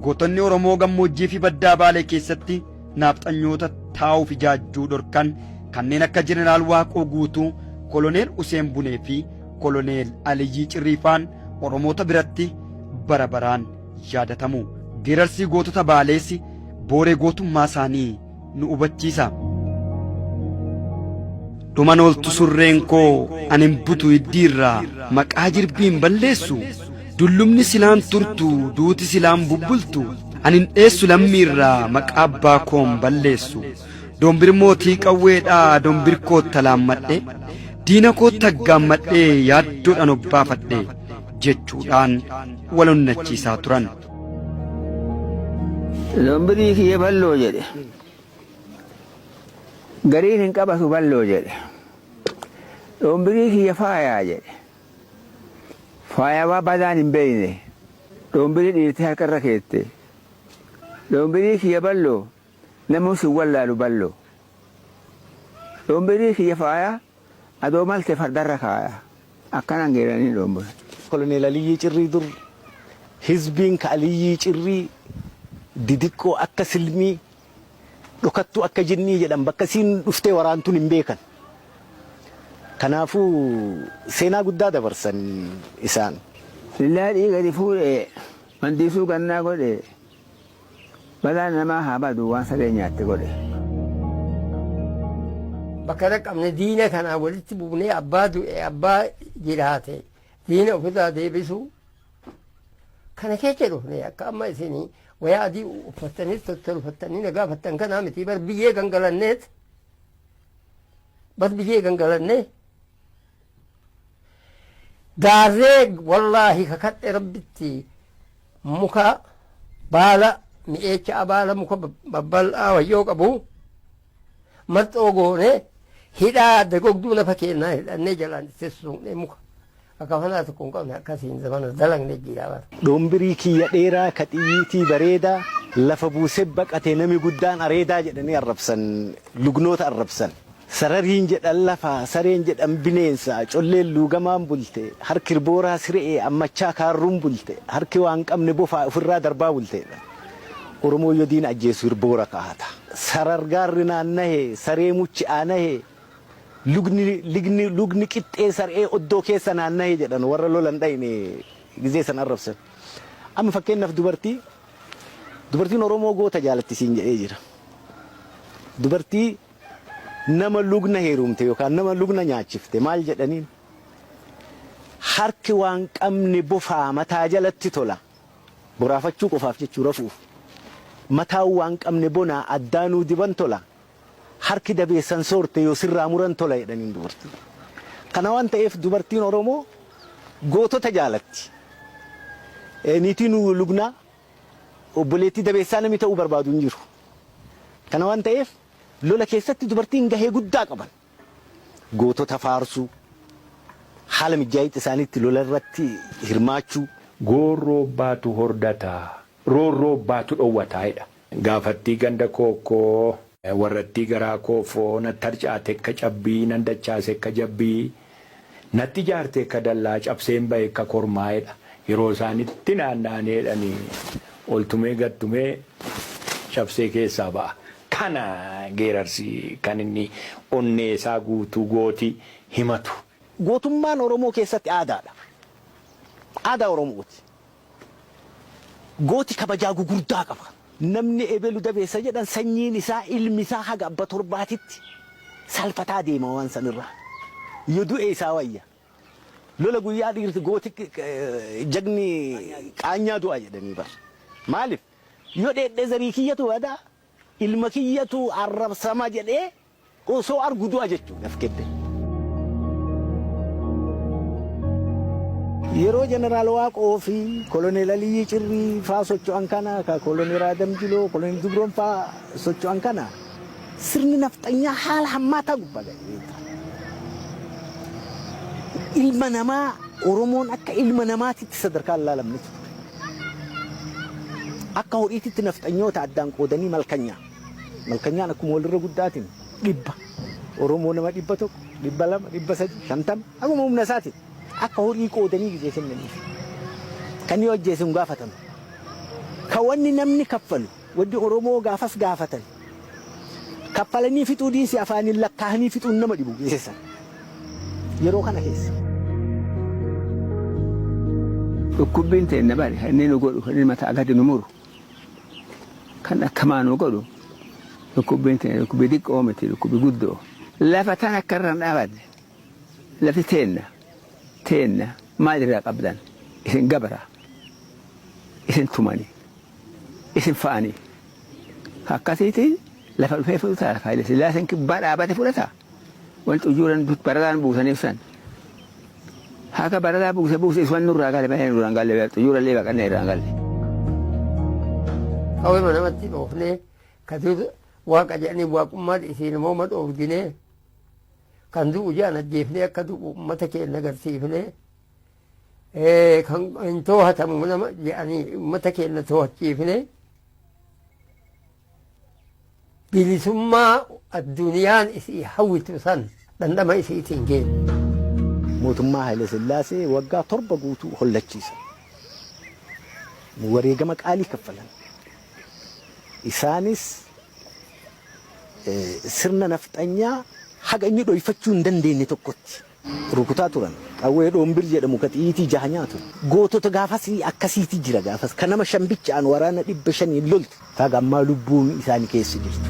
Gootonni Oromoo gammoojjii fi baddaa Baalee keessatti naafxanyoota taa'uuf ijaajjuu dhorkan kanneen akka Jeneraal Waaqoo Guutuu, Koloneel Useen Bunee fi Koloneel Aliyyii Cirriifaan Oromoota biratti bara baraan yaadatamu. Geerarsii gootota Baalees booree gootummaa isaanii nu hubachiisa. Dhuman ooltu surreen koo ani hin butu hiddiirraa maqaa jirbii hin balleessu. Dullumni silaan turtu duuti silaan bubbultu ani hin dheessu lammiirraa maqaa abbaa koo hin balleessu. Dombir mootii qawweedhaa dombir koo talaammadhe diina koo taggaammadhee yaaddoodhaan obbaafadhe jechuudhaan wal onnachiisaa turan. Lombirii kiyya balloo jedhe. Gariin hin qabatu balloo jedhe. Dhombirii kiyya faayaa jedhe. Faayawaa badaan hin beeyne. Dhombirii dhiirti harka irra keette. Dhombirii kiyya balloo namuu sin wallaalu balloo. Dhombirii kiyya faayaa Adoo malte fardarra kaaya. Akkanaan geeranii dhoombolan. Koloneel Aliyyii Cirrii Dur hizbiin ka Aliyyii Cirrii didiqqoo akka silmii, dhokattuu akka jinnii jedhan bakka isiin dhuftee waraantun hin beekan. Kanaafuu seenaa guddaa dabarsan isaan. Illaa dhiiga itti fuudhee. Mandiisuu gannaa godhee. Balaan namaa haa badu waan sareen nyaatte godhe. Bakka dhaqqabne diina kanaan walitti buunee abbaa du'e abbaa jiraate diina ofirraa deebisuu kana keessa dhufne akka amma isin wayaa adii uffattanii tottolfattanii na gaafattan kanaa miti bar biyyee gangalanneet bar biyyee gangalannee Gaarreen wallaahi kakadhe rabbitti muka baala mi'eecha abaala muka babbal'aa wayyoo qabu marxoo goone hidhaa dagogduu lafa keennaa hidhannee jalaan itti suuqnee muka akka fanaa tokko hin qabne akkasiin zamana dalagne jira bara. Dhombirii kiyya dheeraa ka xiyyiitii bareedaa lafa buusee baqate nami guddaan areedaa jedhanii arrabsan lugnoota arrabsan. Sarariin jedhan lafa, sareen jedhan bineensa, colleen luugamaan bulte, harki irbooraa sire'ee ammachaa kaarruun bulte, harki waa hin qabne bofaa ufirraa darbaa bulte jedhan. Oromoon yoo diina ajjeesu irboora kaa'ata. Sarar gaarri naannahe, saree muchi aanahe, lugni, ligni, lugni qixxee sar'ee oddoo keessa naannahe jedhan warra lola hin dhayne gizee san arrabsan. Amma fakkeennaaf dubartii, dubartiin Oromoo goota jaalatti siin jedhee jira. Dubartii. Nama lugna heerumte yookaan nama lugna nyaachifte maal jedhaniin? Harki waan qabne bofaa mataa jalatti tola. Boraafachuu qofaaf jechuu rafuuf. Mataan waan qabne bonaa addaanuu diban tola. Harki dabeessan soorte yoo sirraa muran tola jedhaniin dubartiin. Kana waan ta'eef dubartiin Oromoo gootota jaalatti. Niitiin lugnaa obboleettii dabeessaa namni ta'uu barbaadu hin jiru. Kana waan ta'eef lola keessatti dubartiin gahee guddaa qaban. Gootota faarsuu, haala mijjaa'itti isaaniitti lola irratti hirmaachuu. Goorroo abbaatu hordata, roorroo abbaatu dhowwata jedha. Gaafattii ganda kookkoo. Warrattii garaa koofoo, natti harcaatekka cabbii, nan dachaasekka jabbii. Natti jaarte ekka dallaa cabseen bahe ekka kormaa edha yeroo isaan itti naanna'anii edhanii ol tumee gad tumee cabsee keessaa ba'a. Kana geerarsi kan inni onnee isaa guutuu gooti himatu. Gootummaan Oromoo keessatti aadaadha. Aadaa Oromooti. Gooti kabajaa gugurdaa qaba. Namni ebelu dabeessa jedhan sanyiin isaa, ilmi isaa haga abba torbaatitti salfataa deema waan san irraa. Yo du'e isaa wayya. Lola guyyaa dhiirti gooti jagni qaanyaa du'a jedhanii bar. Maalif? Yo dheedhe zarii kiyyatu bada, ilma kiyyatu arrabsama jedhee Osoo argu du'a jechu naf kette. Yeroo Jeneraal Waaqoo fi Koloneel Aliyyii Cirrii faa socho'an kana, ka Koloneel Aadam Jiloo, Koloneel Jubroon faa socho'an kana, sirni nafxanyaa haala hammaataa gubbaa ga'ee ture. Ilma namaa, Oromoon akka ilma namaatitti sadarkaa hin laalamnetu ture. Akka horiititti nafxanyoota addaan qoodanii malkanyaa. Malkanyaan akkuma walirra guddaatiin dhibba Oromoo nama dhibba tokko, dhibba lama, dhibba sadi, shantama akkuma humna isaatiin akka horii qoodanii gizee kennaniif. Kan yoo ajjeese hin gaafatamu. Kan wanni namni kaffalu wanni Oromoo gaafas gaafatan kaffalanii fixuu diinsi afaaniin lakkaa'anii fixuun nama dhibu geessan. Yeroo kana keessa. Dhukkubbiin teenna bari kan inni nu godhu kan inni mataa gadi nu muru Kan akkamaa nu godhu dhukkubbiin teenna dhukkubbii diqqoo miti dhukkubbii guddoo. Lafa tan akka irra hin dhaabadne lafti teenna teenna maal irraa qabdan isin gabara isin tumani isin fa'ani akkasiiti lafa dhufee fudhata Haayile Sillaaseen kibbaa dhaabate fudhata. Wanti ujuuran barataan buusaniif san. Haka barataa buuse buuse iswan nurraa gale baay'ee nurraan galle beektu ujuura illee baqannee irraan galle. Kawee mana matti dhoofnee katuutu waaqa jedhanii waaqummaa dhiisiin immoo ma dhoofdinee kan du'u jaan ajjeefnee akka du'u uummata keenya agarsiifnee kan hin toohatamu nama jedhanii uummata keenya toohachiifnee Bilisummaa addunyaan isii hawwitu san dhandhama isiitiin geenya. Mootummaa Hayilasillaasee waggaa torba guutuu hollachiisan. Wareegama qaalii kaffalan. Isaanis sirna nafxanyaa haga inni dhoyfachuu hin dandeenye tokkotti. rukutaa turan. Qawwee dhoombir jedhamu ka xiyiitii jaha nyaatu. Gootota gaafasii akkasiiti jira gaafas ka nama shan bicha'aan waraana dhibba shaniin loltu. Ta haga ammaa lubbuun isaani keessa jirtu.